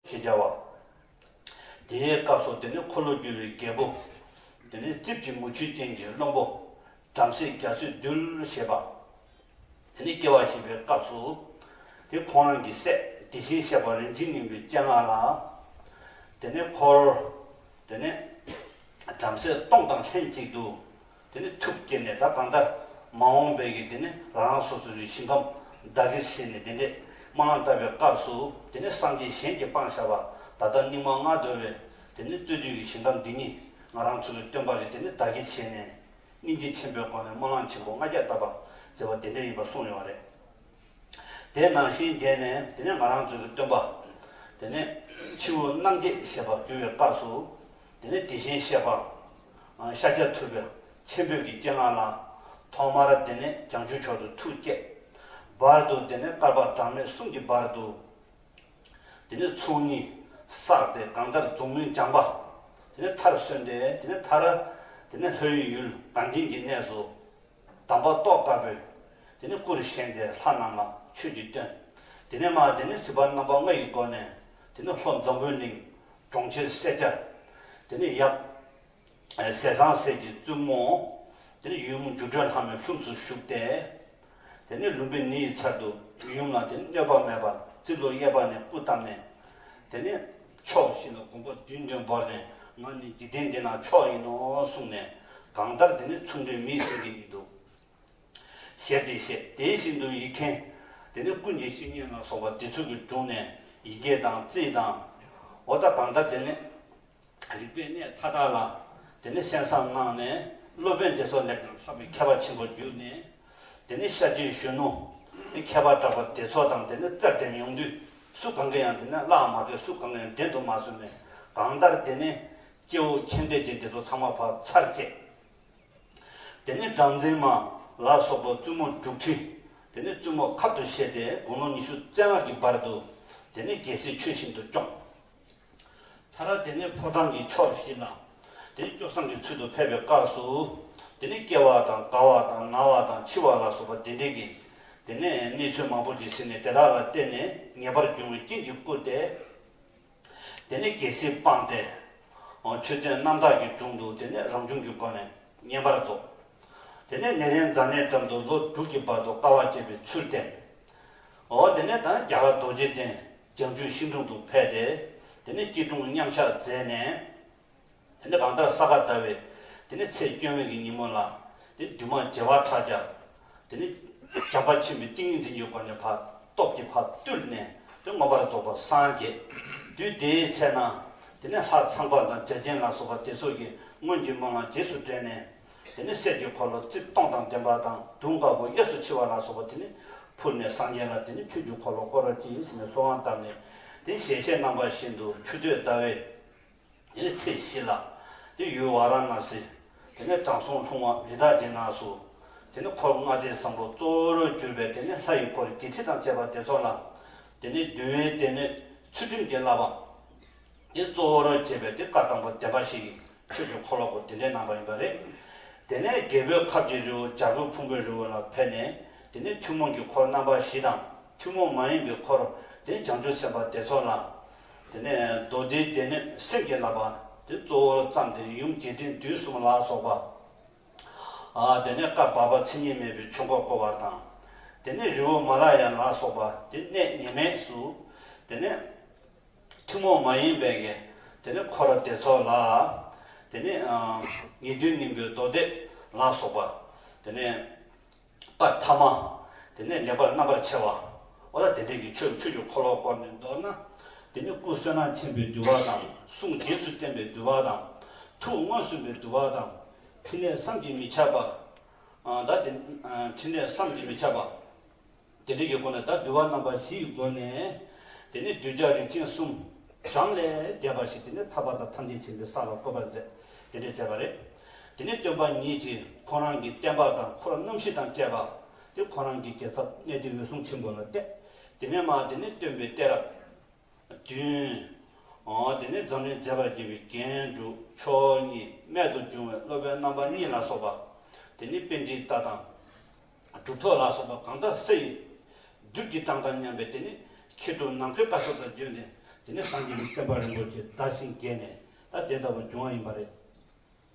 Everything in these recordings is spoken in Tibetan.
ཞེས་བྱ་བ། དེའི་སྐབས་སུ་དེ་ནི་འཁོར་ལོ་སྒྱུར་བའི་རྒྱལ་པོ། དེ་ནས་རྩིབས་ཀྱི་མུ་ཁྱུད་སྟེང་གི་བློན་པོ། བྲམ་ཟེ་རྒྱ་མཚོས་འདུལ་ཞེས་པ། དེ་ནས་སྐྱེ་བ་བཞི་པའི་སྐབས་སུ། དེ་ཁོང་རང་གི་སྲས་དེ་བཞིན་གཤེགས་པ་རིན་ཆེན་སྙིང་པོའི་སྤྱན་སྔར་ལ། དེ་ནས་འཁོར། དེ་ནས། བྲམ་ཟེ་སྟོང་དང་ལྷན་ཅིག་ཏུ། དེ་ནས་ཐུགས་བསྐྱེད་ནས་ད་གང་ལྟར། མ་འོངས་པའི་གྱི་དེ་ནས་རང་རང་སོ་སོ་རིགས་ཤིང་ཁམས་བདག་གིར་བྱས་ནས་དེ་འདྲས་མ་ལ་བཏབ་པའི་སྐབས་སུ། དེ་ནས་སངས་རྒྱས་གཞན་གྱི་སྤང་བྱ་བ་ད་ལྟར་སྙིགས་མ་ལྔ་བདོ་བས་དེ་ནས་རྩོད་དུས་ཀྱི་ཞིང་ཁམས་འདི་ཉིད་ང་རང་ཚུལ་བའི་སྟོན་པ་གི་དེ་ནས་བདག་གིར་བྱས་ནས། སྙིང་རྗེ་ཆེན་པོའི་སྒོ་ནས་སྨོན་ལམ་ཆེན་པོ་ལྔ་བརྒྱ་བཏབ་པ་མཛད་པ་དེ་འདྲ་ཡིན་པ་གསུངས་ཡོང་བ་རེད། དེ་ནང་བཞིན་རྒྱས་ནས་དེ་ནས་ང་རང་ཚོའི་སྟོན་པ། དེ་ནས་ཕྱི་བོའི་རྣམ་འབྱེད་ཞེས་པ་བསྒྱུར་བའི་སྐབས་སུ། དེ་ནས་དེ་བཞིན་གཤེགས་པ། ཤཱཀྱ་ཐུབ་པའི་ཆེན་པོས་ཀྱི་སྤྱན་སྔར་ལ། ཐོག་མར་དེ་ནས་བྱང་ཆུབ་མཆོག་ཏུ་ཐུགས་བསྐྱེད། བར་དུ་དེ་ནས་བསྐལ་པ་གྲངས་མེད་གསུམ་གྱི་བར་དུ། དེ་ནས་ཚོགས་གཉིས་བསགས་ཏེ་གང་ལྟར་འཛུམ་དམུལ་སྦྱངས་པ། དེ་ནས་མཐར་སོན་ཏེ་དེ་ནས་ཐར། དེ་ནས་ལྷོའི་ཡུལ་དང་དེང་གི་གནས་སུ། དམ་པ་ཏོག་དཀར་པོས་དེ་ནས་སྐུར་བཞེངས་ཏེ་ལྷ་རྣམས་ལ་ཆོས་ཀྱིས་སྟོན། དེ་ནས་མ་དེ་ནས་སྲིད་པ་རྣམ་པ་ལྔ་ཡི་སྒོ་ནས་དེ་ནས་ལྷོ་འཛམ་བུའི་གླིང། གྲོང་ཁྱེར་སེར་སྐྱ། དེ་ནས་ཡབ། ཟས་བཟང་ཟས་ཀྱི་བཙུན་མོ། དེ་ནས་ཡུམ་སྒྱུ་འཕྲུལ་ལྷ་མོའི་ལྷུམས་སུ་ཞུགས་ཏེ། དེ་ནས་ལུམ་བི་ནི་ཡི་ཚལ་དུ་ཡུམ་ལ་དེ་ནས་གནོད་པ་མེད་པར་རྩིབས་ལོ་གཡས་པ་ནས་སྤུ་བལྟམས་ནས། དེ་ནས་ཕྱོགས་བཞི་ལ་དགོངས་པ་བདུན་བདུན་བོར་ནས་ང་ནི་འཇིག་རྟེན་འདི་ན་མཆོག་ཡིན་ནོ་གསུངས་ནས། གང་ལྟར་དེ་ནས་ཚུར་འདུས་མིའི་སེམས་ཀྱི་ནི་དུ་ཞལ་འདི་བཞེས་དེ་བཞིན་དུ་ཡིག་མཁན། དེ་ནས་ཀུན་གྱི་བཤེས་གཉེན་ལ་སོགས་པ་དེ་ཚུལ་གྱིས་བསྒྲུངས་ནས་ཡི་གེ་དང་རྩིས་དང། འོ་ད་གང་ལྟར་དེ་ནས། རིག་པའི་གནས་མཐའ་དག་ལ་དེ་ནས་གསན་བསམ་གནང་ནས་སློབ་དཔོན་དེ་ཚོ་ལེགས་པར་ལྷག་པའི་མཁས་པ་ཆེན་པོར་གྱུར་ནས། དེ་ནས་ཤར་རྒྱུད་གཞོན་ནུ་ནས་མཁས་པ་གྲགས་པ་དེ་ཚོ་དང་དེ་ནས་རྩལ་འགྲན་ཡོང་དུས་སུ་གང་གིས་ཡང་དེ་ནས་བརླག་མ་དགོས་སུ་གང་གིས་ཡང་འགྲན་དུ་མ་བཟོད་མོད། གང་ལྟར་དེ་ནས་སྐྱེ་བོ་མཁྱེན་ལྡན་ཅན་དེ་ཚོ་ཚང་མ་བག་ཚར་བཅད། དེ་ནས་སྦྲང་རྩི་མ་ལ་སོགས་པ་བཙུན་མོ་དྲུག་ཁྲི་དེ་ནས་བཙུན་མོ་ཁབ་ཏུ་བཞེས་ཏེ་དགུང་ལོ་ཉི་ཤུ་རྩེ་ལྔ་གྱི་བར་དུ་དེ་ནས་རྒྱལ་སྲིད་ཆོས་བཞིན་དུ་སྐྱོང། ཐ་ར་དེ་ནས་ཕོ་བྲང་གི་ཕྱོགས་བཞི་ན། དེ་ནས་སྐྱོ་སངས་ཀྱི་ཚུལ་དུ་ཕེབས་པའི་སྐབས་སུ། དེ་ནས་སྐྱེ་བ་དང་རྒ་བ་དང་ན་བ་དང་འཆི་བ་ལ་སོགས་པ་བདེ་འགྲིག་གི། དེ་ནས་གནས་ཚུལ་མང་པོ་ཞིག་ཟིན་ནས་དེ་དག་ལ་བརྟེན་ནས་ངེས་པར་འབྱུང་བའི་རྐྱེན་གྱིས་བསྐུལ་ཏེ། དེ་ནས་རྒྱལ་སྲིད་སྤངས་ཏེ། ཆོས་བདུན་རྣམ་དག་གི་དྲུང་དུ་དེ་ནས་རང་བྱུང་གི་སྒོ་ནས་བསྙེན་པར་རྫོགས། དེ་ནས་ནེ་རན་ཛཱ་ནའི་འགྲམ་དུ་ལོ་དྲུག་གི་བར་དུ་དཀའ་བ་སྤྱད་པའི་ཚུལ་བསྟན། འོ་དེ་ནས་དང་རྒྱ་གར་རྡོ་རྗེ་གདན་ཀྱང་ཅུན་ཤིན་ཀྲུང་དུ་ཕེབས་ཏེ། དེ་ནས་སྐྱིད་ཀྲུང་མཉམ་ཆགས་མཛད་ནས། དེ་ནས་གང་ལྟར་ས་ག་ཟླ་བའི། དེ་ནས་ཚེས་བཅོ་ལྔའི་གི་ཉིན་མོ་ལ། དེ་ནས་འདུས་མང་བརྗེ་བ་ཕྲག་བརྒྱ། དེ་ནས་བྱམས་པ་ཆེན་པོའི་ཏིང་ངེ་འཛིན་གྱི་སྒོ་ནས་བར་སྟོབས་ཀྱི་བར་བཏུལ་ནས་དེ་མངོན་པར་རྫོགས་པར་སངས་རྒྱས། དུས་དེའི་ཚེ་ན། དེ་ནས་ལྷ་ཚངས་པ་དང་བརྒྱ་བྱིན་ལ་སོགས་པ་དེ་ཚོགས་ཀྱིས་སྔོན་གྱི་སྨོན་ལམ་རྗེས་སུ་དྲན་ནས། དེ་ནས་གསེར་གྱི་འཁོར་ལོ་རྩིབས་སྟོང་དང་ལྡན་པ་དང་དུང་དཀར་པོ་གཡས་སུ་འཁྱིལ་བ་ལ་སོགས་པ་དེ་ནས་ཕུལ་ནས་སངས་རྒྱས་ལ་དེ་ནས་ཆོས་ཀྱི་འཁོར་ལོ་བསྐོར་བར་གྱིས་ཟེར་ནས་གསོལ་བ་གདབ་ནས། དེ་ནས་ཞལ་ཕྱེས་རྣམ་པ་བཞིན་དུ་ཆུ་སྟོད་ཟླ་བའི། དེ་ནས་ཚེས་བཞི་ལ། དེ་ཡུལ་བ་ར་ན་སི། དེ་ནས་དྲང་སྲོང་ལྷུང་བ་རི་དྭགས་ཀྱི་ནགས་སུ། དེ་ནས་འཁོར་ལྔ་སྡེ་བཟང་པོ་གཙོ་བོར་གྱུར་པའི་དེ་ནས་ལྷ་ཡི་འཁོར་བརྒྱད་ཁྲི་དང་བཅས་པ་དེ་ཚོགས་ལ། དེ་ནས་བདུད་བྷའི་དེ་ནས་ཚུལ་ཁྲིམས་ཀྱི་བསླབ་པ། འདི་གཙོ་བོར་བྱས་པའི་དེབ་ཁ་དང་པོ་བདེན་པ་ཞིག་ཆོས་ཀྱི་འཁོར་ལོ་སྐོར་འདི་འདྲའི་ནང་པ་ཡིན་པ་རེད། དེ་ནས་རྒྱལ་པོའི་ཁབ་ཀྱི་རི་བོ་ལྗགས་བུ་ཕུང་པོའི་རི་བོ་ལ་ཕེབས་ནས་དེ་ནས་ཐུན་མོང་གི་འཁོར་རྣམ་པ་བཞི་དང་ཐུན་མོང་མ་ཡིན་པའི་འཁོར་དེ་བྱང་ཆུབ་སེམས་དཔའ་དེ་ཚོ་ལ། དེ་ནས་མདོ་སྡེའི་སྡེ་སྣོད་སེམས་ཀྱི་བསླབ་པ་དེ་གཙོ་བོར་བརྩམས་ཏེ་ཡུམ་རྒྱས་འབྲིང་བསྡུས་གསུམ་ལ་སོགས་པ། དེ་ནས་བཀའ་བར་པ་མཚན་ཉིད་མེད་པའི་ཆོས་འཁོར་བསྐོར་བ་དང། དེ་ནས་རི་བོ་མ་ལ་ཡ་ལ་སོགས་པ་དེ་གནས་ངེས་མེད་སུ། དེ་ནས། ཐུན་མོང་མ་ཡིན་པའི་དགེ། དེ་ནི་འཁོར་བདེ་ཚོགས་ལ། དེ་ནི། ངེས་དོན་སྙིང་པོའི་མདོ་སྡེ་ལ་སོགས་པ། དེ་ནི། པར་ཐ་མ། དེ་ནི་ལེགས་པར་རྣམ་པར་ཕྱེ་བ། འོ་ན་དེ་འབྲེལ་གྱི་ཆོས་ཆོས་ཀྱི་འཁོར་ལོ་བསྐོར་ནས་མདོར་ན། དེ་ནི་སྐུ་བསོད་ནམས་ཆེན་པོས་བསྡུས་པ་དང་གསུང་རྗེས་སུ་བསྟན་པས་བསྡུས་པ་དང། ཐུགས་མངོན་སུམ་པས་བསྡུས་པ་དང། ཕྲིན་ལས་བསམ་གྱིས་མི་ཁྱབ་པ། ད། ཕྲིན་ལས་བསམ་གྱིས་མི་ཁྱབ་པ། དེ་འདྲ་ཡོད་དགོས་ན་ད་འདུལ་བ་རྣམ་པ་བཞི་ཡི་སྒོ་ནས་དེ་ནས་གདུལ་བྱ་རིགས་ཅན་གསུམ། བགྲང་ལས་རྒྱལ་བ་ཞིག་དེ་ནས་ཐར་པ་དང་ཐམས་ཅད་མཁྱེན་པའི་ས་ལ་བཀོད་པར་མཛད་དེ་འདྲས་མཛད་པ་རེད། དེ་ནས་སྟོན་པ་ཉིད་ཀྱིས་ཁོང་རང་གི་བསྟན་པ་དང་འཁོར་རྣམ་བཞི་དང་བཅས་པ་དེ་ཁོང་རང་གི་རྒྱལ་ཚབ་གནས་དེ་འོད་སྲུང་ཆེན་པོ་ལ་གཏད། དེ་ནས་མ་དེ་ནས་སྟོན་པའི་གཏད་རབས་བདུན། དེ་ནས་འཛམ་གླིང་མཛེས་པར་བགྱིས་པའི་རྒྱན་དྲུག་མཆོག་གཉིས་རྨད་དུ་བྱུང་བའི་སློབ་དཔོན་རྣམ་པ་གཉིས་ལ་སོགས་པ། དེ་ནས་དཔེ་འདྲིའི་རྟགས་དང། གྲུབ་ཐོབ་ལ་སོགས་པ་གང་དག་སུ་ཡིན། བདུད་ཀྱི་གྲངས་དང་མཉམ་པའི་དེ་ནི་ཁྱེད་དུ་ནམ་མཁའི་ལྟ་ཚུལ་དང་བརྗོད་ནས། དེ་ནས་སངས་རྒྱས་ཀྱི་བསྟན་པ་རིན་པོ་ཆེ་བདག་བྱིན་བརྒྱད་ནས་ད་དེ་ལྟ་བུ་འབྱུང་བ་ཡིན་པ་རེད།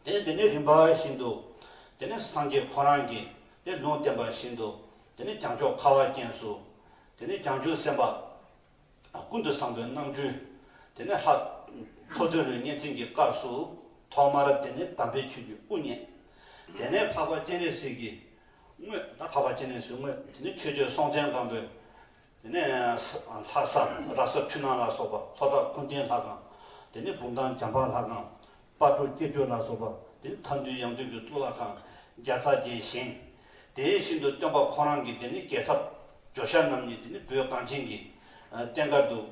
དེ་ནས་དེ་ནི་རིམ་པ་བཞིན་དུ། དེ་ནས་སངས་རྒྱས་ཁོ་རང་གིས་དེ་ལུང་བསྟན་པ་བཞིན་དུ། དེ་ནས་བྱང་ཕྱོགས་ཁ་བ་ཅན་སུ། དེ་ནས་བྱང་ཆུབ་སེམས་དཔའ། ཀུན་ཏུ་བཟང་པོའི་རྣམ་འཕྲུལ། དེ་ནས་ལྷ། ཐོ་ཐོས་ལོའི་གཉན་བཙན་གྱི་སྐབས་སུ། ཐོག་མར་དེ་ནི་དམ་པའི་ཆོས་ཀྱི་དབུ་བརྙེས། དེ་ནས་འཕགས་པ་སྤྱན་རས་གཟིགས་ཀྱིས་བསྔོས། འཕགས་པ་སྤྱན་རས་གཟིགས་བསྔོས་དེ་ནས་ཆོས་སྤྱོད་སྲོང་བཙན་སྒམ་པོས། དེ་ནས། ལྷ་ས་ར་ས་འཕྲུལ་སྣང་ལ་སོགས་པ་ལྷོ་བྲག་ཀུན་བརྟེན་ལྷ་ཁང། དེ་ནས་འབུམ་ཐང་འཇམ་དཔལ་ལྷ་ཁང། དཔའ་བོ་སྐྱེ་སྤྲུལ་ལ་སོགས་པ། དེ་མཐའ་འདུལ་ཡང་འདུལ་གྱི་གཙུག་ལག་ཁང་བརྒྱ་རྩ་བརྒྱད་བཞེངས། དེ་བཞིན་དུ་སྟོན་པ་ཁོང་རང་གི་དེ་ནི་རྒྱལ་ཚབ། ཇོ་ཤཱ་རྣམ་གཉིས་དེ་ནི་བོད་གངས་ཅན་གྱི། བསྟན་དགའ་འདུལ།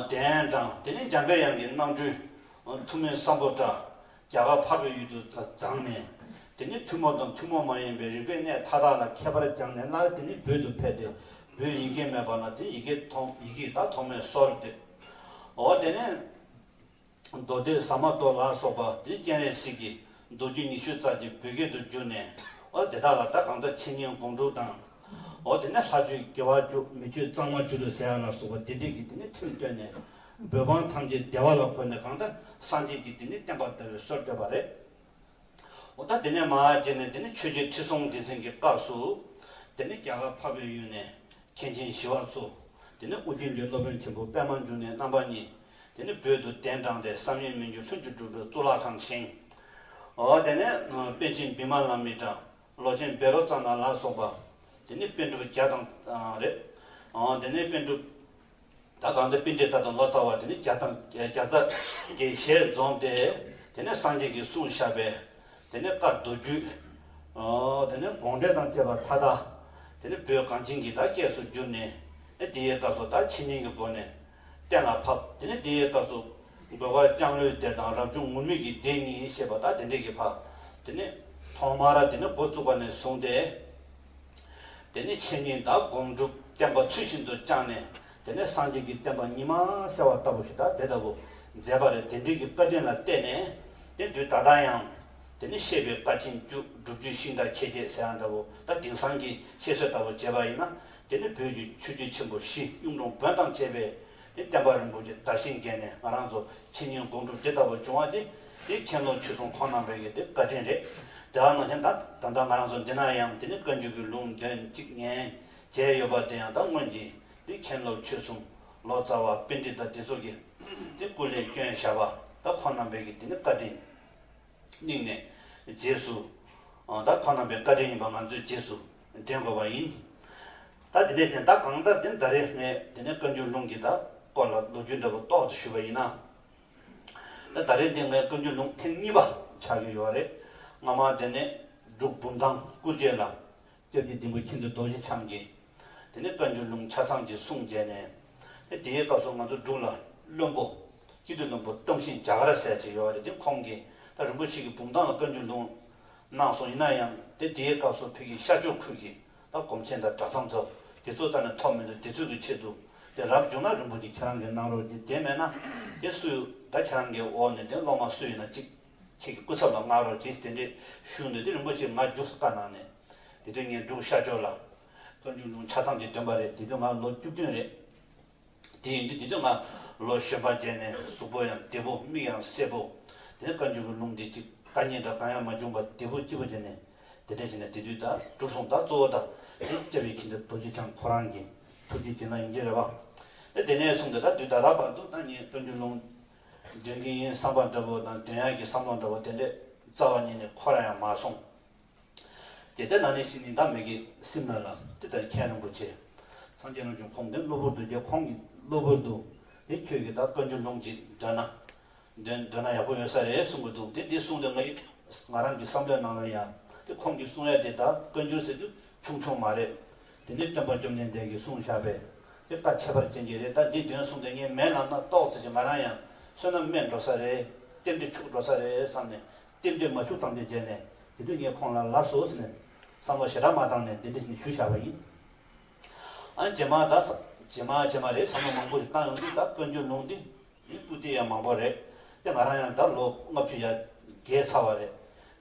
གདན་དྲངས། དེ་ནི་འཇམ་པའི་དབྱངས་ཀྱི་སྣང་སྤྲུལ། ཐུ་མོའི་བསམ་པོ་བཀྲ། རྒྱ་གར་འཕགས་པའི་ཡུལ་དུ་བརྫངས་ནས། དེ་ནི་ཐུན་མོང་དང་ཐུན་མོང་མ་ཡིན་པའི་རིག་པའི་གནས་མཐའ་དག་ལ་མཁས་པར་བསྐྱངས་ནས་སླར་དེ་ནི་བོད་དུ་ཕེབས་ཏེ། བོད་ཡིག་སྐད་སྨྲས་པ་ལ་དེ་ཡི་གེ་ཐོག་ཡི་གེ་ཡི་དྭགས་ཐོག་མའི་སྲོལ་འདོད། འོ་དེ་ནས། མདོ་སྡེ་ཟ་མ་ཏོག་ལ་སོགས་པ་འདི་སྤྱན་རས་གཟིགས་ཀྱི་མདོ་རྒྱུད་ཉི་ཤུ་རྩ་གཅིག་བོད་སྐད་དུ་བསྒྱུར་ནས་ཨོ་དེ་དག་ལ་བདག་གང་ལྟར་འཆད་ཉན་དགོངས་དཀྲུགས་དང། ཨོ་དེ་ནས་ལྷ་ཆོས་དགེ་བ་བཅུ་མི་ཆོས་གཙང་མ་བཅུ་དྲུག་ཟེར་ཡ་ལ་སོགས་པ་དེ་འདྲས་ཀྱི་དེ་ནི་ཁྲིམས་བཏོན་ནས་བོད་འབངས་ཐམས་ཅད་བདེ་བ་ལ་བཀོད་ནས་གང་ལྟར་སངས་རྒྱས་ཀྱི་དེ་ནི་བསྟན་པ་དར་བའི་སྲོལ་བཏོད་པ་རེད། ཨོ་ད་དེ་ནས་མ་རྗེས་ནས་དེ་ནི་ཆོས་རྒྱལ་ཁྲི་སྲོང་ལྡེ་བཙན་གྱི་སྐབས་སུ། དེ་ནི་རྒྱ་གར་འཕགས་པའི་ཡུལ་ནས་མཁན་ཆེན་ཞི་བ་འཚོ། དེ་ནི་ཨོ་རྒྱན་གྱི་སློབ་དཔོན་ཆེན་པོ་པདྨ་འབྱུང་གནས་རྣམ་པ་གཉིས། དེ་ནས་བོད་དུ་གདན་དྲངས་ཏེ་བསམ་ཡས་མི་འགྱུར་ལྷུན་གྱིས་གྲུབ་པའི་གཙུག་ལག་ཁང་བཞེངས། དེ་ནས་པཎ་ཆེན་བི་མ་ལ་མི་ཏྲ། ལོ་ཆེན་བེ་རོ་ཙཱ་ན་ལ་སོགས་པ། དེ་ནས་པཎ་གྲུབ་བརྒྱ་དང། རེད། དེ་ནས་པཎ་གྲུབ། ད་གང་འདི་པིན་ཏྲེ་ཏཱ་དང་ལོ་ཙཱ་བ་དེ་ནས་བརྒྱ་དང་བརྒྱ་རྩ། གྱི་ཞལ་འཛོམས་ཏེ། དེ་ནས་སངས་རྒྱས་ཀྱི་གསུང་བཤགས་པས། དེ་ནས་བཀའ་བསྡུ་བརྒྱུད། དེ་ནས་དགོངས་འགྲེལ་དང་བཅས་པ་མཐའ་དག། དེ་ནས་བོད་གངས་ཅན་གྱི་བདག་སྐྱེས་སུ་གྱུར་ནས། དེ་ཡི་སྐབས་སུ་བདག་ཕྱི་གཉན་གྱི་སྒོ་ནས། གཏན་ལ་ཕབ། དེ་ནས་དེའི་སྐབས་སུ། རྒོལ་བ་ལྕང་ལོའི་སྡེ་དང་རབ་བྱུང་ངུར་སྨྲིག་གི་སྡེ་གཉིས་ཞེས་པ་དག་དེ་འདྲས་ཀྱིས་ཕབ། དེ་ནས། ཐོག་མར་དེ་ནི་འགོ་བཙུགས་པ་ནས་བཟུང་སྟེ། དེ་ནས་འཆད་ཉན་དང་སྒོམ་སྒྲུབ་བསྟན་པ་ཚུལ་བཞིན་དུ་བསྐྱངས་ནས། དེ་ནས་སངས་རྒྱས་ཀྱི་བསྟན་པ་ཉི་མ་ཤར་བ་ལྟ་བུ་ཞིག་དང་དེ་ལྟ་བུ་མཛད་པ་རེད་དེ་འདྲས་ཀྱི་བཀའ་དྲིན་ལ་བརྟེན་ནས། དེ་དུས་ད་ལྟ་ཡང། དེ་ནི་བཤད་པའི་བཀའ་ཆེན་བཅུ་བསྒྲུབ་བརྒྱུད་ཤིང་རྟ་ཁྱེད་ཅེས་ཟེར་ཡང་འདྲ་བོ་དང་དེང་སང་གི་བཤད་སྲོལ་ལྟ་བུ་བྱས་པ་ཡིན་ན། དེ་ནི་བོད་ཀྱི་ཆོས་རྒྱུད་ཆེན་པོ་བཞི་གཡུང་དྲུང་བོན་དང་བཅས་པས་ནི་བསྟན་པ་རིན་པོ་ཆེ་དར་ཞིང་རྒྱས་ནས་ང་རང་ཚོ་འཆད་ཉན་སྒོམ་སྒྲུབ་དེ་ལྟ་བུ་བྱུང་བ་འདི་ནི་མཁྱེན་ལོ་ཆོས་སྲུང་ཁོང་རྣམ་པས་ཀྱི་དེ་བཀའ་དྲིན་རེད། དེ་བ་ན་གཞན་དག་ད་ལྟ་ང་རང་ཚོ་འདི་ན་ཡང་དེ་ནི་བཀའ་འགྱུར་གྱི་ལུང་དོན་གཅིག་ཉན་བྱས་ཡོད་པ་དེ་ཡང་དག་སྔོན་གྱི་ནི་མཁྱེན་ལོ་ཆོས་སྲུང་ལོ་ཙཱ་བ་དཔེ་འདྲི་དང་དེ་སོགས་ཀྱི་དེ་སྐུ་ལས་སྐྱོན་བཞག་པ་དག་ཁོང་རྣམ་པས་ཀྱི་དེ་ནི་བཀའ་དྲིན་སྙིང་ནས་རྗེས་སུ་དག་ཁོང་རྣམ་པའི་བཀའ་དྲིན་ཡིན་པ་ང་ཚོས་རྗེས་སུ་འདྲེན་དགོས་པ་ཡིན། ད་དེ་ནས་དེ་ཟླ་གང་ལྟར་དེ་ཟླ་རེའི་སྔའི་དེ་ནས་བཀའ་འགྱུར་ལུང་གི་ཟླ་སྐོར་ལ་ལོ་རྒྱུས་འདྲ་པོ་རྟོགས་ཏེ་ཞུས་པ་ཡིན། ད་ཟླ་རེའི་དེ་སྔའི་བཀའ་འགྱུར་ལུང་ཐེངས་གཉིས་པ་ཆགས་ཀྱི་ཡོད་རེད། སྔ་མ་དེ་ནི་འབྲུག་འབུམ་ཐང་སྐུ་རྗེས་ལ། སྐྱབས་ཀྱི་སྡིངས་པོ་ཁྱིམ་དུ་རྡོ་རྗེ་འཆང་གིས། དེ་ནས་བཀའ་འགྱུར་ལུང་ཆ་ཚང་གི་གསུང་མཇལ་ནས། དེ་དེའི་སྐབས་སུ་ང་ཚོ་འབྲུག་ལ་བློན་པོ། སྐྱིད་སྡུག་བློན་པོ་སྟོང་ཞིང་རྒྱ་གར་ཟས་ཅེས་ཡོད་རེད་དེ་ཁོང་གིས་ད་རིན་པོ་ཆེ་གི་འབུམ་ཐང་ལ་བཀའ་འགྱུར་ལུང། གནང་སོང་ཡིན་ན་ཡང་དེ་དེའི་སྐབས་སུ་བོད་ཀྱི་ཤར་ཕྱོགས་ཁུལ་གྱི་ལ་གོམས་ཆེན་དང་གྲྭ་ཚང་ཚོ་དེ་ཚོ་ལྟ་ནས་ཐོག་མེད་དུ་དེ་ཚོའི་གི་ཆེད་དུ་དེ་རབ་བྱུང་ན་རིན་པོ་ཆེ་ཁྱེད་རང་གི་གནང་རོགས་དེ་དེ་མེད་ན་དེ་སུ་ད་ཁྱེད་རང་གི་འོག་ནས་དེ་སློབ་མ་སུ་ཡིན་ན་ཅིག་ཁྱེད་ཀྱི་སྐུ་ཚབ་ལ་མངགས་རོགས་གྱིས་དེ་འདྲའི་ཞུ་འདོད་དེ་རིན་པོ་ཆེ་ང་རྒྱུགས་ས་དཀའ་གནང་ནས་དེ་དུས་ངས་འབྲུག་ཤར་ཕྱོགས་ལ། ཀ་འབྱུང་ཆུང་ཆ་ཚང་གི་འདོན་པ་རེད་དེ་དུས་ང་ལོ་བཅུ་བདུན་རེད། དེ་ཡིན་དུས་དེ་དུས་ང་ལོ་བཤད་པ་བརྒྱད་ནས་གཟུགས་པོ་ཡང་བདེ་པོ་མིག་ཡང་སེར་པོ། དེ་ནས་བཀའ་འགྱུར་གྱི་ལུང་དེ་གཅིག་བཀའ་ཉན་དང་བཀའ་ཡང་མ་བྱུང་བར་བདེ་པོ་སྐྱིད་པོ་བྱས་ནས་དེ་འདྲ་བྱས་ནས་དེ་དུས་དག་གྲུབ་སོང་དག་གཙོ་བོ་དག་དེ་དཔྱད་པའི་ཕྱིན་ཏེ་རྡོ་རྗེ་འཆང་ཁོ་རང་གི་ཐུགས་ཀྱི་བྱིན་རླབས་ཡིན་གྱི་རེད་བ། དེ་དེ་ནས་བཟུང་སྟེ་ད་དུས་ད་ལྟ་བར་དུ་ད་ངས་བཀའ་འགྱུར་ལུང་འདོན་གྱི་ཡིན་བསམ་པ་འདྲ་བོ་དང་འདོན་ཡག་གི་བསམ་བློ་འདྲ་བོ་དེ་འདྲས་རྩ་བ་ཉིད་ནས་ཁོ་རང་ཡང་མ་སོང། དེ་ལྟར་ན་ནི་ཤིང་ནི་བདག་མེད་ཀྱི་སེམས་ལ་ལ་དེ་ལྟར་མཁྱེན་རུང་གོ་ཆེ། སངས་རྒྱས་རྣམས་ཀྱང་ཁོང་དེ་གློ་བུར་དུ་རྒྱལ་ཁོང་གི་གློ་བུར་དུ་དེ་ཁྱོད་ཀྱིས་བདག་བཀའ་འགྱུར་ལུང་གཅིག་འདོན་ན། འདོན་འདོན་ན་ཡག་པོ་ཡོད་ས་རེད་གསུང་གི་འདུག་དེ་འདི་གསུང་དེ་ང་ཡིས་ང་རང་གི་བསམ་བློའི་ནང་ལ་ཡང་དེ་ཁོང་གིས་གསུང་ཡ་དེ་བདག་བཀའ་འགྱུར་ཟེར་རྒྱུ་ཆུང་ཆུང་མ་རེད། དེ་ནི་སྟོན་པ་བཅོམ་ལྡན་འདས་ཀྱིས་གསུང་བཞག་པས་དེ་བཀའ་ཁྱད་པར་ཅན་གྱི་རེད་ད་འདི་འདོན་གསུང་དེ་ངའི་མན་ལམ་ན་རྟོགས་ཚེ་ང་རང་ཡང་བསོད་ནམས་དམན་འགྲོ་ས་རེད། གཏེར་འདི་ཕྱུག་འགྲོ་ས་རེད་བསམ་ནས་ལྟེབ་འབྲས་མ་ཕྱུགས་ཐམས་ཅད་བརྒྱལ་ནས་དེ་དུས་ངས་ཁོང་ལ་ལབ་སོ་ཟེར་ནས་བསམ་བློ་ཞེ་དྲག་མ་བཏང་ནས་འདི་འདྲི་ཞིག་ཞུ་བྱ་བ་ཡིན། ཨ་རྗེས་མ་ད་བསམ་རྗེས་མ་རྗེས་མ་རེད་བསམ་བློ་མང་པོ་ཞིག་བཏང་ཡོང་དུས་ད་བཀའ་འགྱུར་ལུང་འདི་འདི་སྤུ་ལྟེ་ཡང་མང་པོ་རེད་དེ་ང་རང་ཡང་ད་ལོ་ལྔ་བཅུ་ཡར་རྒྱལ་ཚར་བ་རེད་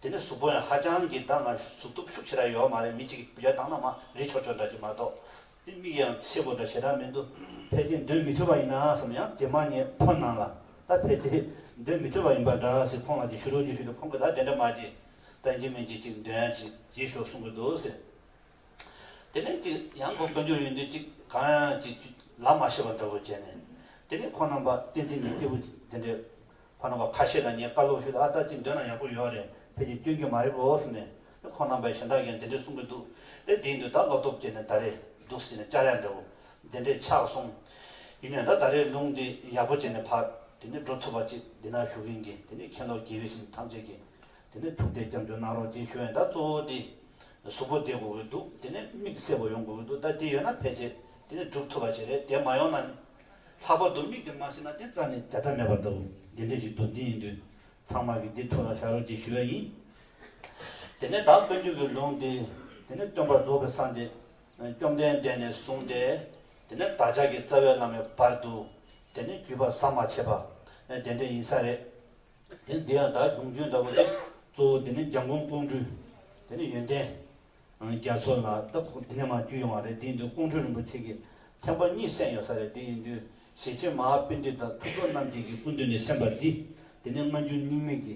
དེ་ནས་གཟུགས་པོ་ཡང་ཧ་ཅང་གི་ད་ང་གཟུགས་སྟོབས་ཤུགས་ཆེ་ར་ཡོད་མ་རེད་མི་གཅིག་གིས་སྤུ་རྒྱལ་བཏང་ན་མ་རིག་ཆོག་ཆོག་འདྲ་གཅིག་མ་གཏོགས། སྟེ་མིག་ཡང་ཆེས་པོ་འདྲ་ཞེ་དྲག་མི་འདུག་ཕལ་ཆེར་འདོན་མི་ཐུབ་པ་ཡིན་ན་བསམ་ཡང་དེ་མ་ཉེས་ཁོ་སྣང་ལ་ད་ཕལ་ཆེར་འདོན་མི་ཐུབ་པ་ཡིན་པ་འདྲ་ཟེར་ཁོང་ལ་ཅིག་ཞུ་རོགས་ཅིག་ཞུ་དེ་ཁོང་གིས་ད་དེ་འདྲ་མ་བྱེད་ད་འཇིགས་མེད་ཀྱིས་ཅིག་འདོན་ཅིག་བགྱིས་ཤོག་གསུང་གི་འདུག་ཟེར། དེ་ནས་ཅིག་ཡང་ཁོ་བཀའ་འགྱུར་ཡོད་འདུག་ཅིག་གང་ཡང་ཅིག་ལབ་མ་ཤེས་པ་འདྲ་བོ་བྱས་ནས་དེ་ནས་ཁོང་རྣམ་པ་བསྟན་འཛིན་གྱི་སྐྱེས་བུ་དེ་འདྲས། ཁོ་རྣམ་པ་ཁ་ཤས་དང་ངས་བཀའ་སློབ་ཞུས་ཏེ་ཨ་སྟག་ཅིག་འདོན་ན་ཡག་པོ་ཡོད་རེད་ཕལ་ཆེར་སྐྱོན་གྱི་མ་རེད་འོག་ཟེར་ནས་དེ་ཁོ་རྣམ་པས་གཞན་དག་གིས་འདི་འདྲས་གསུང་གི་འདུག་རེད་དེའི་མདུན་ད་བློ་སྟོབས་སྐྱེད་ནས་ད་རེས་འདུག་ཟེར་ནས་བསྐྱར་ཡར་འདྲ་བོ་འདི་འདྲས་ཆགས་སོང། ཡིན་ནའི་འདྲ་ད་རེས་ལུང་འདི་ཡག་པོ་བྱས་ནས་ཕར་དེ་ནས་འགྲོ་ཐུབ་པ་ཅིག་འདི་ན་ཞུགས་ཡིན་གྱི་དེ་ནས་ཁྱེད་ལོག་དགྱེས་བས་ཤིན་ཏུ་ཐམས་ཅད་ཀྱིས་དེ་ནས་ཐུགས་གཏད་སྐྱབས་འཇུག་གནང་རོགས་ཅེས་ཞུ་ཡས་འདྲ་གཙོ་བོ་དེ་གཟུགས་པོ་བདེ་དགོས་ཀྱི་འདུག་དེ་ནས་མིག་གསལ་བོ་ཡོང་དགོས་ཀྱི་འདུག་ད་དེ་ཡོད་ན་ཕལ་ཆེར་དེ་ནས་སྒྲུབ་ཐུབ་པ་ཅིག་རེད་དེ་མ་ཡོང་ན་ནི། ལྷག་པར་དུ་མིག་དེ་མ་ཟིན་ན་དེ་རྩ་ནས་བརྒྱ་ཐབས་མེད་པ་ལྟ་བུ་འདི་འདྲས་ཞིག་འདུག་འདི་ཡིན་དུས་ཚང་མ་གིས་འདི་ཐུགས་ལ་བཞག་རོགས་གྱིས་ཞུ་བ་ཡིན། དེ་ནས་བདག་དཀོན་མཆོག་གི་ལུང་འདི། དེ་ནས་སྟོན་པ་རྫོགས་པའི་ས་འདི། བཅོམ་ལྡན་འདས་ནས་གསུངས་ཏེ། དེ་ནས་བདག་ཅག་གི་རྩ་བའི་བླ་མའི་བར་དུ། དེ་ནས་བརྒྱུད་པ་ཟམ་མ་ཆད་པ། དེ་འདྲས་ཡིན་ས་རེད། དེ་ནས་འདི་ཡང་དག་འབྱུང་བརྗོད་འདྲ་བོ་དེ། གཙོ་བོ་དེ་ནས་འཇམ་མགོན་ཀོང་སྤྲུལ། དེ་ནས་ཡོན་ཏན། རྒྱ་མཚོ་ལ་སྟག་ཕུ་དེ་ནས་མར་བརྒྱུད་ཡོང་བ་རེད་དེའི་དུས་ཀོང་སྤྲུལ་རིན་པོ་ཆེ་གི་ཐེག་པ་གཉིས་གསན་ཡོད་ས་རེད་དེ་ཡིན་དུས་ཞེ་ཆེན་མ་ཧ་དཔེ་འདི་དང་ཐུབ་བསྟོད་རྣམ་རྒྱལ་གྱི་སྐུ་མདུན་ནས་གསན་པ་འདི་དེ་ནི་སྔ་འགྱུར་རྙིང་མིག་གི་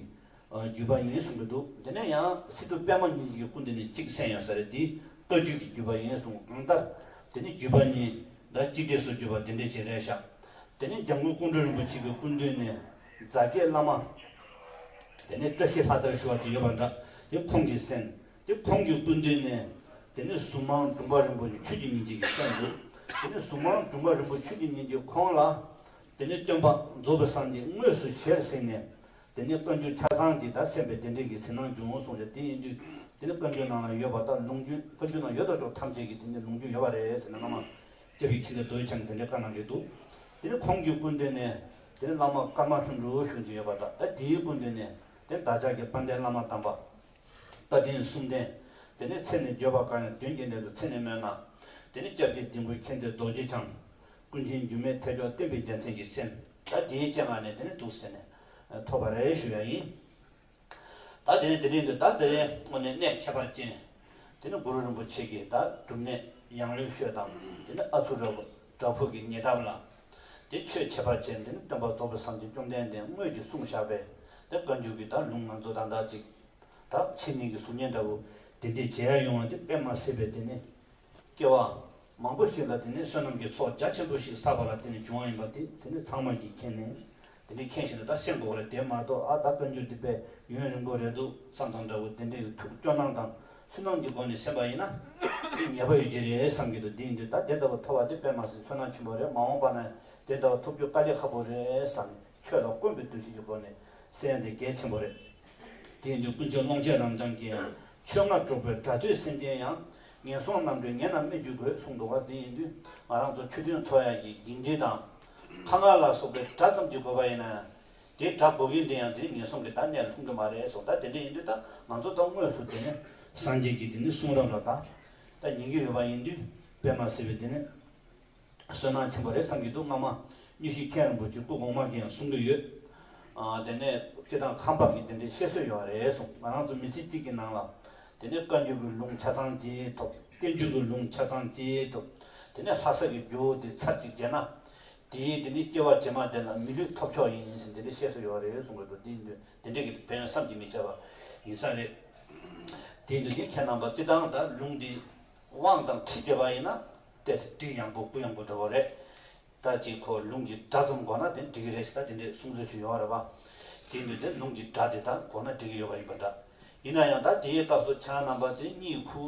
བརྒྱུད་པ་ཡིན་གསུང་གི་འདུག་དེ་ནས་ཡང་སི་ཏུ་དཔལ་མོ་གཉིས་ཀྱི་སྐུ་འདི་ནས་གཅིག་གསན་ཡོད་ས་རེད་འདི་བསྟོད་བརྒྱུད་ཀྱི་བརྒྱུད་པ་ཡིན་གསུང་གང་ལྟར་དེ་ནི་བརྒྱུད་པ་གཉིས་འདྲ་གཅིག་འདྲེས་སུ་བརྒྱུད་པ་དེ་འདྲས་བྱས་རེད་ཤག་དེ་ནས་འཇམ་མགོན་ཀོང་སྤྲུལ་རིན་པོ་ཆེ་གི་སྐུ་མདུན་ནས་རྫ་སྐྱེས་བླ་མ་དེ་ནས་བཀྲ་ཤིས་ལྷ་དར་ཞུ་བ་དེ་ཡོད་པ་འདྲ་དེ་ཁོང་གིས་གསན། དེ་ཁོང་གི་སྐུ་མདུན་ནས། དེ་ནས་གཟུངས་མང་དྲུང་པ་རིན་པོ་ཆེ་ཆོས་ཀྱི་ཉིན་གཅིག་གི་སེམས་འདི། དེ་ནས་གཟུངས་མང་དྲུང་པ་རིན་པོ་ཆོས་ཀྱི་ཉིན་གཅིག་ཁོང་ལ། དེ་ནས་སྟོན་པ་རྫོགས་པའི་གསང་འདི་དངོས་སུ་གཞིར་བཞེངས་ནས། དེ་ནས་བཀའ་འགྱུར་ཆ་ཚང་གི་བདག་སེམས་པའི་བདེན་འབྲས་ཀྱི་ཟིན་སྣང་འབྱུང་གསུངས་ཀྱང་དེ་ཡིན་དུས། དེ་ནས་བཀའ་འགྱུར་ནང་ན་ཡོད་པ་དག་ལུང་རྒྱུན་བཀའ་འགྱུར་ནང་ཡོད་དོ་ཅོག་ཐམས་ཅད་ཀྱི་དེ་ནས་ལུང་རྒྱུན་ཡོད་པ་རེད་ཟེར་ནས་བླ་མ། ཅེ་བི་ཁྱི་འདི་རྡོའི་ཆ་ནས་དེ་འདྲའི་བཀའ་གནང་གི་འདུག། དེ་ནས་ཁོང་གི་སྐུ་མདུན་ནས། དེ་ནས་བླ་མ་ཀརྨ་ལྷུན་གྲུབ་གཞུང་ཅེས་ཡོད་པ་དག་ད་དེའི་སྐུ་མདུན་ནས། དེ་ནས་བདག་ཅག་གི་དཔལ་ལྡན་བླ་མ་དམ་པ། རྟ་མགྲིན་གསུམ་ལྡན། དེ་ནས་ཚེ་ནི་བརྗོད་པར་དཀའ་ཡང་བདུན་གྱི་གནད་དུ་ཚེ་ནི་སྨོས་ན། དེ་ནི་སྐྱབས་ཀྱི་སྡིག་མགོན་མཁྱེན་བརྩེ་རྡོ་རྗེ་འཆང། ཀུན་མཁྱེན་སྒྱུ་མའི་ཐེག་མཆོག་བསྟན་པའི་རྒྱལ་མཚན་གྱི་སེམས། ད་དེའི་སྤྱན་སྔ་ནས་དེ་ནི་དུག་སེལ་ནས། ཐོགས་པ་རེ་རེ་ཞུ་ཡང་ཡིན། ད་དེ་ནས་དེ་རིང་དུ་ད་དེ་སྔོན་ནས་གནས་ཁྱད་པར་ཅན། དེ་ནི་གུ་རུ་རིན་པོ་ཆེ་གིས་ད་སྒྲུབ་གནས། ཡང་ལེའུ་ཤོད་དང། དེ་ནི་ཨ་ཚུགས་རབ། བྲག་ཕུག་གི་ཉེ་འདབས་ལ། དེ་ཆོས་འཆད་པར་བྱེད་འདི་ནི་སྟོན་པ་རྫོགས་པའི་སངས་རྒྱས་བཅོམ་ལྡན་འདས་དངོས་ཀྱིས་གསུངས་བཞག་པས་འདི་བཀའ་འགྱུར་གྱི་དག་ལུང་ང་ཚོ་དང་འདྲ་ཅིག། དག་ཕྱི་གཉིས་ཀྱི་གཟུགས་བརྙན་འདྲ་བོ། དེ་འདྲའི་བྱེད་ཡ་ཡོང་བ་འདི་དཔེ་མ་སྲིད་པས་དེ་ནི། སྐྱེ་བ། མང་པོ་ཞིག་ལ་དེ་ནི་བསོད་ནམས་ཀྱི་ཚོགས་རྒྱ་ཆེན་པོ་ཞིག་བསགས་པ་ལ་དེ་ནི་འབྱུང་བ་ཡིན་པ་དེ་དེ་ནི་ཚང་མ་གྱིས་མཁྱེན་ནས། དེ་འདྲའི་མཁྱེན་བཞིན་དུ་ད་ཤེས་འགོ་བ་རེད་དེ་མ་གཏོགས་ཨ་ད་དཔོན་རྒྱུད་འདི་པས་ཡུན་རིང་པོ་རེད་འདུག་བསམ་དང་འདྲ་བོ་དེ་འདྲའི་ཐུགས་སྐྱོ་སྣང་དང་སུན་སྣང་གི་སྒོ་ནས་ཞེན་པ་ཡིན་ན་དེ་ཉེས་པ་ཡོད་ཀྱི་རེད་བསམ་གྱི་འདུག་དེ་ཡིན་དུས་ད་དེ་ལྟ་བུ་ཐོབ་བ་དེ་དཔེ་མ་ཟིན་སུན་སྣང་ཆེན་པོ་རེད་མ་འོངས་པ་ན་དེ་ལྟ་བུ་ཐོབ་རྒྱུ་དཀའ་ལས་ཁག་པོ་རེད་བསམ་ཁྱོད་ལ་དཀོན་པའི་འདུ་ཤེས་ཀྱི་སྒོ་ནས་གསལ་ཡང་དེ་གལ་ཆེན་པོ་རེད། དེ་ཡིན་དུས་ཀུན་སྤྱོད་ཀློང་ཆེན་རང་བྱང་གི་ཡང་ཆོས་ལྔ་སྒྲོག་པའི་སྒྲ་ཐོས་སེམས་ཅན་ཡང་ངན་སོང་རྣམ་གྲོལ་ངན་རྣམས་སྨད་ཅི་དགོས་གསུངས་འདུག་བ་དེ་ཡིན་དུས་ང་རང་ཚོ་ཆོས་མཐུན་ཚོགས་ཡག་གི་འགྱིང་འདྲེ་དང་ཁ་ང་ལ་སོགས་པའི་སྒྲ་ཙམ་གྱིས་གོ་བ་ཡིན་ན། དེའི་སྒྲ་གོ་གིན་འདི་ཡང་དེའི་ངན་སོང་གི་བདག་གཉེར་ལ་ལྷུང་གི་མ་རེད་སོགས་བདག་དེ་འདྲས་ཡིན་དུས་ད་ང་ཚོ་ད་དངོས་སུ་དེ་ནི་སངས་རྒྱས་ཀྱིས་དེ་ནི་གསུང་རབ་ལ་བདག་ད་ཉན་གྱི་ཡོད་པ་ཡིན་དུས་པད་མ་སེར་བས་དེ་ནི་བསོད་ནམས་ཆེན་པོ་རེད་བསམ་གྱི་འདུག་སྔ་མ་སྙུ་ཤི་མཁན་རིན་པོ་ཆེ་སྐུ་གོང་མ་གིས་ཡང་གསུང་གི་ཡོད། དེ་ནས་སྐྱེ་དང་ཁམས་འབབ་ཀྱིས་དེ་འདྲའི་བཤད་སྲོལ་ཡོད་རེད་གསུངས་ང་རང་ཚོ་མི་ཚེ་གཅིག་གི་ནང་ལ་དེ་ནས་བཀའ་འགྱུར་གྱི་ལུང་ཆ་ཚང་བརྗེ་ཐོབ། བསྟན་འགྱུར་གྱི་ལུང་ཆ་ཚང་བརྗེ་ཐོབ། དེ་ནས་ལྷ་ས་ཀྱི་ཇོ་བོ་དེ་ཚར་གཅིག་བརྗེས་ན། དེས་དེ་ནི་སྐྱེ་བ་ཇེ་མང་དེ་ལ་མི་ལུས་ཐོབ་ཆོག་ཡིན་ཞེས་དེ་འདྲའི་བཤད་སྲོལ་ཡོད་རེད་གསུངས་གི་འདུག་འདི་འདི་འདྲས་ཀྱི་དོན་བསམ་གྱིས་མི་ཁྱབ་པ་ཡིན་ས་རེད། དེའི་འདུལ་བྱེད་མཁས་རྣམ་པ་བསྟི་སྟང་དང་ལུང་འདིས་དབང་དང་ཁྲིད་བྱས་པ་ཡིན་ན། དེ་ཚེ་དུས་ཡངས་པོ་དགུན་ཡངས་པོ་འགྲོ་བ་རེད། ལྟ་ཅི་ཁོ་ལུང་གི་སྒྲ་ཙམ་གོ་ན་དེ་འགྲིག་གི་རེད་ཞེས་ད་དེ་འདྲའི་གསུང་ཚུལ་བྱུང་ཡོང་བ་རེད་པ། དེ་འདྲ་དེ་ལུང་གི་སྒྲ་དེ་ལྟར་གོ་ན་འགྲིག་གི་ཡོད་པ་ཡིན་པ་འདྲ། ཡིན་ན་ཡང་ད་དེའི་སྐབས་སུ་ཁྱེད་རང་རྣམ་པ་དེ་གཉིས་ཁུ་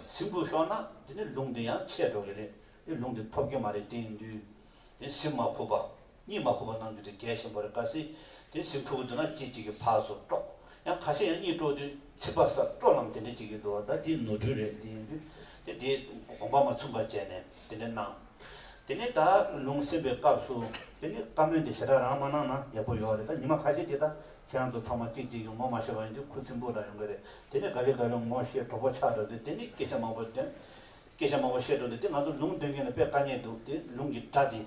སིམ་པོ་ཤོར་ན་དེ་ནི་ལུང་དེ་ཡང་ཆད་འགྲོ་གི་རེད་དེ་ལུང་དེ་ཐོབ་རྒྱུ་མ་རེད་དེ་འདུས། སིམ་མ་ཁུག་པ། གཉིད་མ་ཁུག་པ་གནང་རྒྱུ་དེ་གལ་ཆེན་པོ་རེད་གལ་སྲིད་དེ་སིམ་ཁུག་གི་འདུག་ན་གཅིག་གཅིག་གི་ཕག་སོ་དཀྲོག། ཡང་ཁ་ཤས་ཡང་གཉིད་དཀྲོག་དུས་ཚིག་པ་སར་དཀྲོག་ལམ་དེ་འདྲའི་གཅིག་གི་འདུག་ད་དེ་ནོར་འཁྲུལ་རེད་དེ་འདུས། དེ་དེའི་དགོངས་པ་མ་ཚུགས་པ་བྱས་ནས། དེ་འདྲ་གནང། དེ་ནས་ད་ལུང་སེམས་པའི་སྐབས་སུ་དེ་ནི་བཀའ་མོལ་འདི་ཞེ་དྲག་རང་མ་གནང་ན་ཡག་པོ་ཡོད་རེད་ད་ཉི་མ་ཁ་ཤས་ཀྱིས་ད་ཁྱེད་རང་ཚོ་ཚང་མ་གཅིག་གཅིག་གི་ངོ་མ་ཤེས་པ་ཡིན་དུས་ཁུ་སིམ་པོ་རང་ཡོང་གི་རེད་དེ་ནས་ག་ལེ་ག་ལེ་ངོ་ཤེས་གྲོགས་པོ་ཆགས་འགྲོ་དུས་དེ་ནི་སྐད་ཆ་མང་པོ་འདོན། སྐད་ཆ་མང་པོ་བཤད་འགྲོ་དུས་དེ་ང་ཚོ་ལུང་སྟོན་མཁན་ལ་དཔེ་དཀའ་ཉེས་འདུག་དེ་ལུང་གི་སྒྲ་དེ་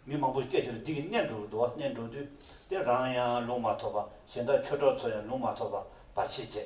མི་མང་པོས་སྐད་ཆ་ལ་འདི་གི་གནས་འགྲོ་འགྲོ་བ་གནས་འགྲོ་དུས་དེ་རང་ཡང་ལུང་མ་ཐོབ་པ་གཞན་དག་ཆོས་གྲོགས་ཚོ་ཡང་ལུང་མ་ཐོབ་པ་བར་ཆད་བྱས།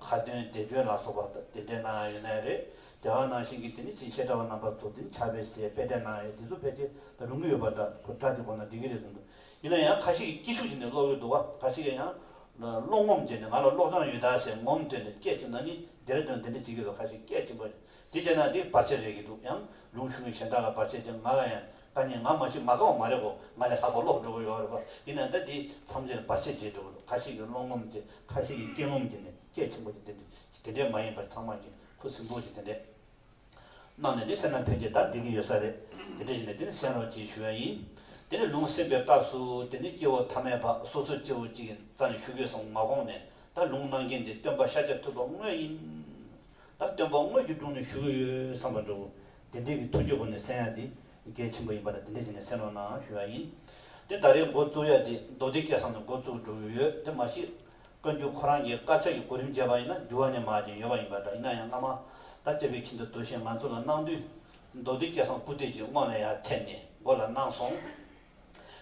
ཁ་འདོན་བདེ་སྦྱོད་ལ་སོགས་པ་དེ་འདྲའི་ནང་ཡང་ཡོད་ནའི་རེད། དེ་ག་ནང་བཞིན་གྱི་དེ་ནི་ཅིག་ཤེས་དྲ་བ་རྣམ་པ་ཚོ་དེ་ནི་ཆགས་པའི་ཞེས་དཔེ་དེབ་ནང་ཡང་དེ་ཚོ་ཕལ་ཆེར་ད་རུང་གི་ཡོད་པ་འདྲ་ཁོ་དྲ་དེ་གོ་ན་འགྲིག་གི་རེད་བསམ་འདུག་ཡིན་ན་ཡང་ཁ་ཤས་ཀྱི་སྐྱིད་ཤུགས་ཀྱིས་ནས་ཀློག་ཡོད་འདུག་བ་ག་ཞིག་གིས་ཡང་ཀློག་ངོམ་བྱས་ནས་ང་ལ་ཀློག་སྦྱང་ཡོད་དཱ་ཞེས་ངོམ་སྤྲད་ནས་སྐད་ཆེམས་ན་ནི་དེར་དོན་དེ་འདྲ་བྱེད་ཀྱི་རེད་ཁ་ཤས་སྐད་ཆེམས་པ་དེ་བྱས་ན་འདིར་བར་ཆད་རེག་གི་འདུག་ཡང་ལུང་ཞུ་མཁན་གཞན་དག་ལ་བར་ཆད་ཀྱང་ང་ལ་ཡང་ད་ནི་ང་མ་བྱེད་མ་དགའ་བ་མ་རེག་གོ་ང་ལས་ལྷག་པ་ཀློག་འགྲོ་དགོས་ཡོད་རེད་པ་ཡིན་ན་ད་འདི་མཚམས་རེར་བར་ཆད་བྱེད་འགྲོ་གི་འདུག་ཁ་ཤས་ཀྱིས་བློ་ངོམ་གྱིས་ཁ་ཤས་ཀྱིས་སྐྱེ་ངོམ་གྱིས་ནས་དཔྱད་ཆེན་པོ་གྱིས་དེ་འདྲས་དེ་འདྲས་མ་ཡིན་པར་ཚང་མ་གྱིས་ཁུ་སིམ་པོ་གྱིས་དེ་འདྲས་གནང་ནས་འདི་སེམས་ནང་ཕལ་ཆེར་ད་འགྲིག་གི་ཡོད་ས་རེད་དེ་འདྲས་བྱས་ནས་དེ་ནི་གསན་རོགས་ཅེས་ཞུ་ཡ་ཡིན་དེ་ནི་ལུང་གསན་པའི་སྐབས་སུ་དེ་ནི་སྐྱེ་བོ་མཐའ་མའི་བར་སོ་སོའི་སྐྱེ་བོ་གཅིག་གི་རྩ་ནས་ཞུ་དགོས་བསམ་མ་དགོངས་ནས་ད་ལུང་གནང་མཁན་དེ་སྟོན་པ་ཤཱཀྱ་ཐུབ་པ་དངོས་ཡིན། ད་སྟོན་པ་དངོས་ཀྱི་དྲུང་ནས་བཞུགས་ཡོད་བསམ་པར་འགྲོའོ། དེ་འདྲས་ཀྱི་ཐུགས་བཅོས་སྒོ་ནས་གསན་ཡ་འདི་གལ་ཆེན་པོ་ཡིན་པར་དེ་འདྲས་བྱས་ནས་གསན་རོགས་གནང་ཞུ་ཡ་ཡིན། དེ་ད་རེས་མགོ་བཙུགས་ཡ་དེ་མདོ་སྡེ་སྐད་གསང་ནས་མགོ་བཙུགས་འགྲོ་གི་ཡོད་དེ་མ་གཞི། བཀའ་འགྱུར་ཁོ་རང་གི་དཀར་ཆག་གི་གོ་རིམ་བརྗེས་པ་ཡིན་ན་འགྱུར་བ་ནི་མ་བྱས་ཡོད་པ་ཡིན་པ་འདྲ་ཡིན་ན་ཡང་སྔ་མ་ད་དཔྱད་པའི་ཁྱིམ་དུ་དོལ་ཞེས་ང་ཚོ་ལ་གནང་དུས། མདོ་སྡེ་སྐད་གསང་སྐུ་སྟེགས་ཀྱི་སྔོན་ལ་ཡར་ཐེབས་ནས་མགོ་ལ་གནང་སོང།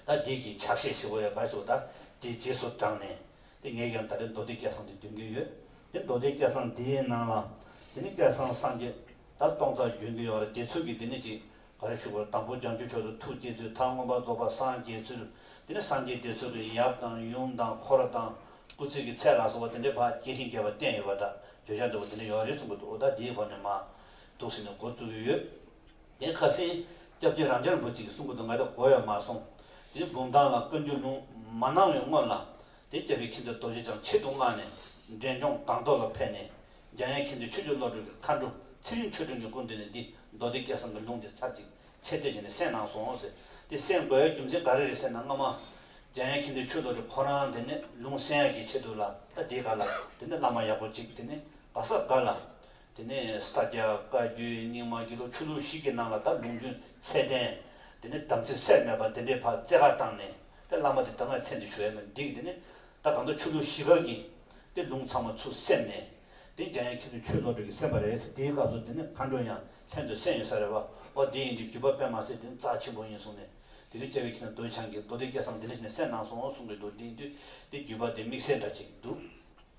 ད་འདིས་ཀྱི་ཕྱག་བཞེས་ཞེས་བོ་ཡ་གར་ཞུ་བ་ལྟར་དེའི་རྗེས་སུ་འབྲངས་ནས། དེ་ངས་ཀྱང་ད་རེས་རྡོ་རྗེ་སྐལ་བཟང་འདི་འདོན་གྱི་ཡོད། དེ་རྡོ་རྗེ་སྐལ་བཟང་འདིའི་ནང་ལ། དེ་ནི་སྐལ་བཟང་སངས་རྒྱས། ད་སྟོང་རྩ་རྒྱུན་གྱི་ཡོང་རེ་དེ་ཚུལ་གྱིས་དེ་ནི་གཅིག། ག་རེ་བཞུགས་པར་དང་པོ་རྒྱང་བཅུ་ཕྱོགས་སུ་ཐུགས་བསྐྱེད་ཚུལ་མཐའ་མངོན་པར་རྫོགས་པ་སངས་རྒྱས་ཚུལ། དེ་ནི་སངས་རྒྱས་དེ་ཚུལ་གྱིས་ཡབ་དང་ཡུམ་དང་འཁོར་ར་དང། སྐུ་ཚེ་གྱི་ཚད་ལ་སོགས་པ་དེ་འདྲའི་བར་སྐྱེ་ཤིང་རྒྱས་པ་བསྟན་ཡོད་པ་འདྲ་བརྗོད་བྱ་འདི་བོ་དེ་འདྲ་ཡོང་རེ་གསུངས་པ་འདུག་ད་དེའི་བར་ནས་མ། འདུག་ཟེར་ནས་འགོ་བཙུགས་ཀྱི་ཡོད། དེ་ཁ་སེང་སྐྱབས་ཀྱིས་རང་འཁྱར་འབུ་ཅིག་གསུང་གི་འདུག་ང་དེ་གོ་ཡ་མ་སོང། དེ་འབུམ་ཐང་ལ་བཀའ་འགྱུར་ལུང་མ་གནང་བའི་སྔོན་ལ། དེ་སྐྱབས་ཀྱིས་ཁྱིམ་བདག་རྡོ་རྗེ་འཆང་ཆེད་དུ་མངགས་ནས་འབྲས་ལྗོངས་སྒང་ཐོག་ལ་ཕེབས་ནས། རྒྱ་ཡན་ཁྱིམ་བདག་ཆོས་རྒྱུད་བློ་གྲོས་ཀྱི་མཁའ་འགྲོ་ཚེ་རིང་ཆོས་སྒྲོན་གྱི་སྐུ་མདུན་ནས་འདི་མདོ་སྡེ་བརྒྱད་ཟམ་གྱི་ལུང་དེ་ཚར་གཅིག་ཆད་གཅོད་བྱས་ནས་གསན་གནང་སོང་ཟེར། དེ་གསན་དགོས་ཡ་རྒྱུ་མཚན་ག་རེ་རེད་ཟེར་ན་སྔ་མ། རྒྱ་ཡན་ཁྱིམ་བདག་ཆོས་བློ་གྲོས་ཁོ་རང་དེ་ནས་ལུང་གསན་ཡ་གྱི་ཆེད་དུ་ལ་ད་འདི་ག་ལ་དེ་ནས་བླ་མ་ཡག་པོ་ཅིག་དེ་ནས་བ་ས་ག་ལ། དེ་ནས་ས་སྐྱ་བཀའ་བརྒྱུད་རྙིང་མ་རྒྱུད་ལོ་ཆུ་ལུག་ཞིག་གི་ནང་ལ་དར་ལུང་རྒྱུན་ཚད་ལྡན། དེ་ནས་དམ་ཚིག་སེར་སྨད་པ་འདི་འདྲའི་བར་རྩེ་གར་བཏང་ནས་དེ་བླ་མ་དེ་དང་ང་ཚད་འདི་ཞུ་ཡ་མི་འགྲིག་དེ་ནས་ད་གང་འདོད་ཆུ་ལུག་ཞིག་ག་གི་དེ་ལུང་ཚང་མ་ཚུར་སེམས་ནས་དེ་རྒྱ་ཡན་ཁྱེད་ཚོས་ཆོས་བློ་གྲོས་ཀྱི་སེམས་པ་རེད་ཟེར་དེའི་སྐབས་སུ་དེ་ནས་མཁའ་འགྲོ་ཡང་ལྷན་དུ་སེམས་ཡོད་ས་རེད་བ་ཨོ་དེ་ཡིན་དུས་བརྒྱུད་པ་དཔེ་མ་ཟད་དེ་རྩ་ཆེན་པོ་ཡིན་གསུངས་ནས་དེ་དུས་སྐྱ་བྷེ་ཁྱི་ན་རྡོ་ཆང་གིས་རྡོ་དེ་སྐྱ་སང་དེ་ལས་བྱས་ནས་སེར་གནང་སོང་གསུངས་གི་འདུག་དེ་ཡིན་དུས་དེ་བརྒྱུད་པ་དེ་དམིགས་བསལ་འདྲ་གཅིག་འདུག